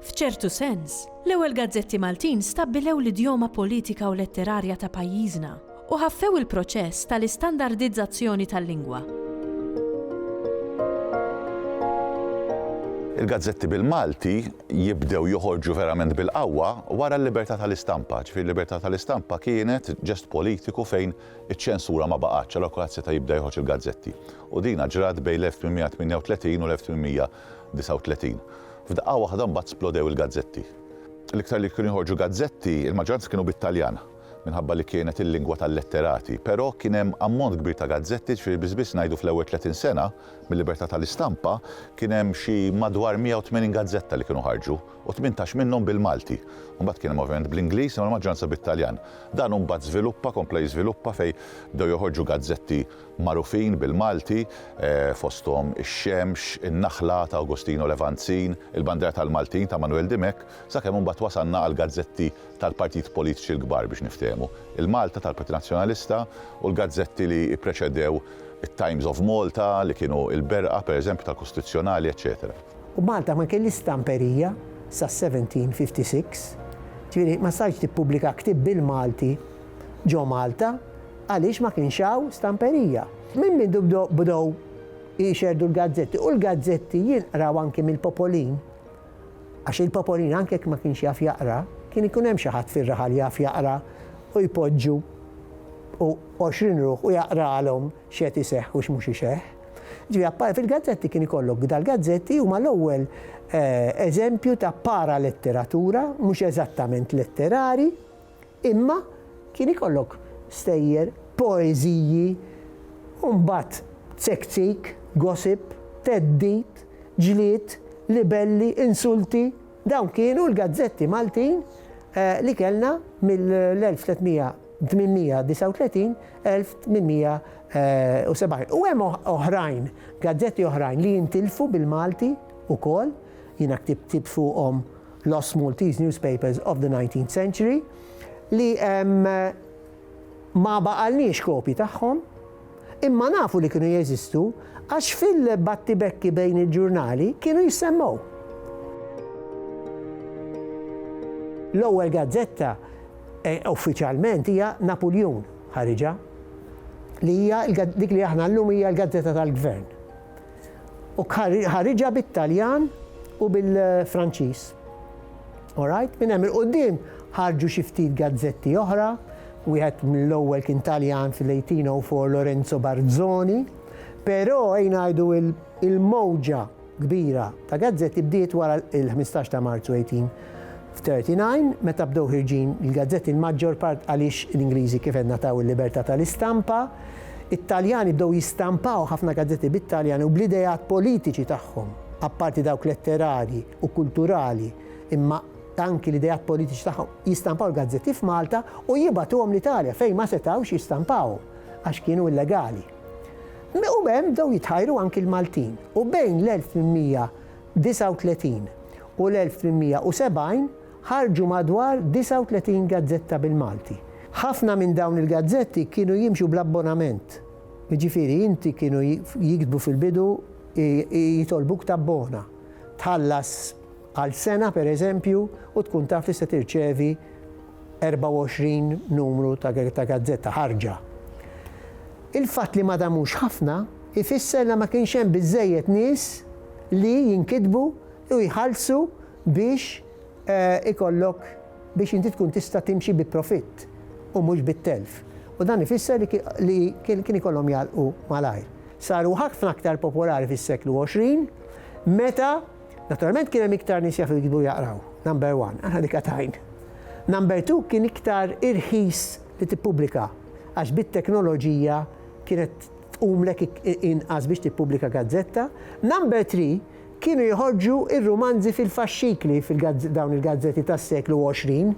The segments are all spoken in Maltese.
F'ċertu sens, l-ewwel gazzetti Maltin stabbilew l-idjoma politika u letterarja ta' pajjiżna u ħaffew il-proċess tal-istandardizzazzjoni tal-lingwa. Il-gazzetti bil-Malti jibdew joħorġu verament bil-qawwa wara l-libertà tal-istampa. Ġifieri l-libertà tal-istampa kienet ġest politiku fejn iċ-ċensura ma baqgħetx, allura kulħadd seta' jibda joħroġ il-gazzetti. U dina ġrat bejn l-1838 u l-1839. 39. F'daqqa waħda mbagħad splodew il-gazzetti. L-iktar li kienu joħorġu gazzetti, il-maġġoranza kienu bit-Taljan, minħabba li kienet il-lingwa tal-letterati, però kien hemm ammont kbir ta' gazzetti, ġifieri biss biss ngħidu fl-ewwel tletin sena mil-libertà tal-istampa kien hemm xi madwar 180 gazzetta li kienu ħarġu u tmintax minnhom bil-Malti. Mbagħad kien hemm ovvjament bl-Ingliż imma l-maġġoranza bit-Taljan. Dan mbagħad żviluppa, kompla jiżviluppa fejn bdew joħorġu gazzetti magħrufin bil-Malti, fosthom ix-xemx, in-naħla ta' Agostino Levanzin, il-bandiera tal-Maltin ta' Manuel Dimech, sakemm imbagħad wasalna għall-gazzetti tal-partiti politiċi l-kbar biex niftehmu, il-Malta tal-Partit Nazzjonalista u l-gazzetti li ppreċedew it-Times of Malta li kienu l-berqa, pereżempju, tal-Kostituzzjonali, eċċetera. U Malta ma kellhiex stamperija sas-1756, ġifieri ma stajtx tippubblika ktieb bil-Malti ġo Malta, għaliex ma kienx hawn stamperija. Minn mindu bdew jxerrdu l-gazzetti, u l-gazzetti jinqraw anki mill-popolin, għax il-popolin anke jekk ma kienx jaf jaqra, kien ikun hemm xi ħadd fir-raħal jaf jaqra u jpoġġu u għoxrin ruħ u jaqralhom x'qed iseħħ u x'mhux iseħħ. Ġifieri appar fil-gazzetti kien ikollok dal-gazzetti huma l-ewwel eżempju ta' paraletteratura, mhux eżattament letterari, Imma kien ikollok stejjer, poeżiji, u mbagħad tzekzik, gossip, theddid, ġlied, libelli, insulti, dawn kienu l-gazzetti Maltin li kellna mill-1839-1870. U hemm oħrajn, gazzetti oħrajn li jintilfu bil-Malti wkoll, jiena ktibt ktieb fuqhom, Lost Maltese Newspapers of the Nineteenth Century, li ma baqalniex kopji tagħhom, imma nafu li kienu jeżistu għax fil-battibekki bejn il-ġurnali kienu jissemmgħu. L-ewwel gazzetta uffiċjalment hija Napuljun ħariġha, li hija dik li aħna llum hija l-gazzetta tal-gvern. u ħariġha bit-Taljan u bil-Franċiż. Alright, minn hemm il-qudiem ħarġu xi ftit gazzetti oħra, wieħed mill-ewwel kien Taljan fil-1804 Lorenzo Barzoni, però ejn ngħidu il-mowġa kbira ta' gazzetti bdiet wara il-15 ta' Marzu 18 F'39, meta bdew ħirġin il-gazzetti l-maġġor part għaliex l-Ingliżi kif għedna taw il-libertà tal-istampa, it-Taljani bdew jistampaw ħafna gazzetti bit-Taljan u bl-ideat politiċi tagħhom, apparti dawk letterarji u kulturali, imma anki l-ideat politiċi tagħhom, jistampaw l-gazzetti f'Malta u jibgħatuhom l-Italja fejn ma setgħux jistampawhom għax kienu illegali. U b'hemm bdew jitħajru anki l-Maltin u bejn l-1800 39 u l-1870 ħarġu madwar 39 gazzetta bil-Malti. Ħafna minn dawn il-gazzetti kienu jimxu bl-abbonament, jiġifieri inti kienu jiktbu fil-bidu jitolbuk tabbona, tħallas għal sena pereżempju u tkun taf li se tirċevi, 24 numru ta' gazzetta ħarġa. Il-fatt li ma damux ħafna ifisser li ma kienx hemm biżżejjed nies li jinkitbu u jħallsu biex ikollok biex inti tkun tista' timxi bi profitt u mhux bit-telf u dan ifisser li kien ikollhom jagħlqu malajr. Saru ħafna aktar popolari fis-seklu 20 meta Naturalment kien hemm iktar nies jafu jiktbu u jaqraw, number one, aħna dik għatajn. Number two kien iktar irħis li tippubblika għax bit-teknoloġija kienet tqumlek inqas biex tippubblika gazzetta. Number three kienu joħorġu r-rumanzi fil-faxxikli fil-dawn il-gazzetti tas-seklu 20.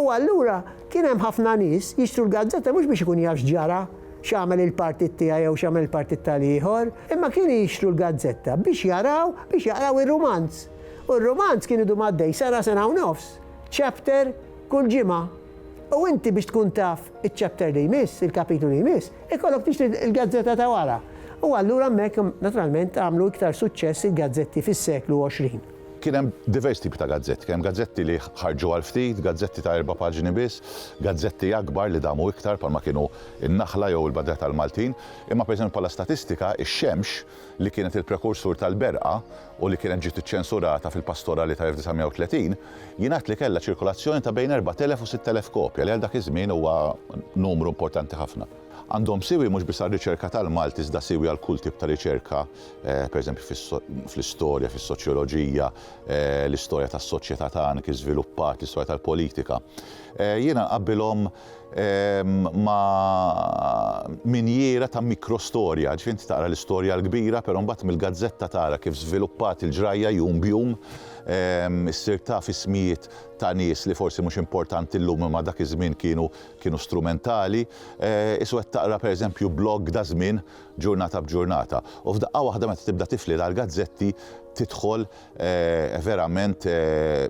U allura kien hemm ħafna nies jixtru l-gazzetta mhux biex ikun jaf x'ġara x'għamel il-partit tiegħi jew x'għamel il-partit tal-ieħor, imma kienu jixtru l-gazzetta biex jaraw, biex jaqraw ir-rumanz. U r-rumanz kien idum għaddej sara sena u nofs, chapter kull ġimgħa. U inti biex tkun taf iċ-chapter li jmiss, il-kapitlu li jmiss, ikollok tixtri l-gazzetta ta' wara. U allura hemmhekk naturalment għamlu iktar suċċess il-gazzetti fis-seklu 20. Kien hemm diversi tipi ta' gazzetti, kien hemm gazzetti li ħarġu għal ftit, gazzetti ta' erba' paġni biss, gazzetti akbar li damu iktar bħalma kienu n-Naħla jew il-Badra tal-Maltin, imma pereżempju bħala statistika, ix-Xemx, li kienet il-prekursur tal-Berqa u li kienet ġiet iċċensurata fil-Pastorali tal-1930, jingħad li kellha ċirkolazzjoni ta' bejn 4,000 u 6,000 kopja, li għal dak iż-żmien huwa numru importanti ħafna. Għandhom siwi mhux biss għar-riċerka tal-Malti iżda siwi għal kull tip ta' riċerka, pereżempju fl-istorja, fis-soċjoloġija, l-istorja tas-soċjetà tagħna kif żviluppat, l-istorja tal-politika. Jiena nqabbilhom ma' minjiera ta' mikrostorja, ġifieri inti taqra l-istorja l-kbira però mbagħad mill-gazzetta tara kif żviluppat il-ġrajja jum b'jum, issir taf ismijiet ta' nies li forsi mhux importanti llum imma dak iż-żmien kienu kienu strumentali, is wegħed taqra pereżempju blog da żmien ġurnata b'ġurnata. U f'daqqa waħda meta tibda tifli dal-gazzetti tidħol verament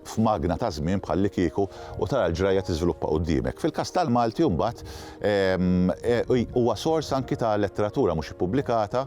f'magna ta' żmien bħallikieku u tara l-ġrajja tiżviluppa quddiemek. Fil-każ tal-Malti mbagħad huwa sors anki ta' letteratura mhux ippubblikata,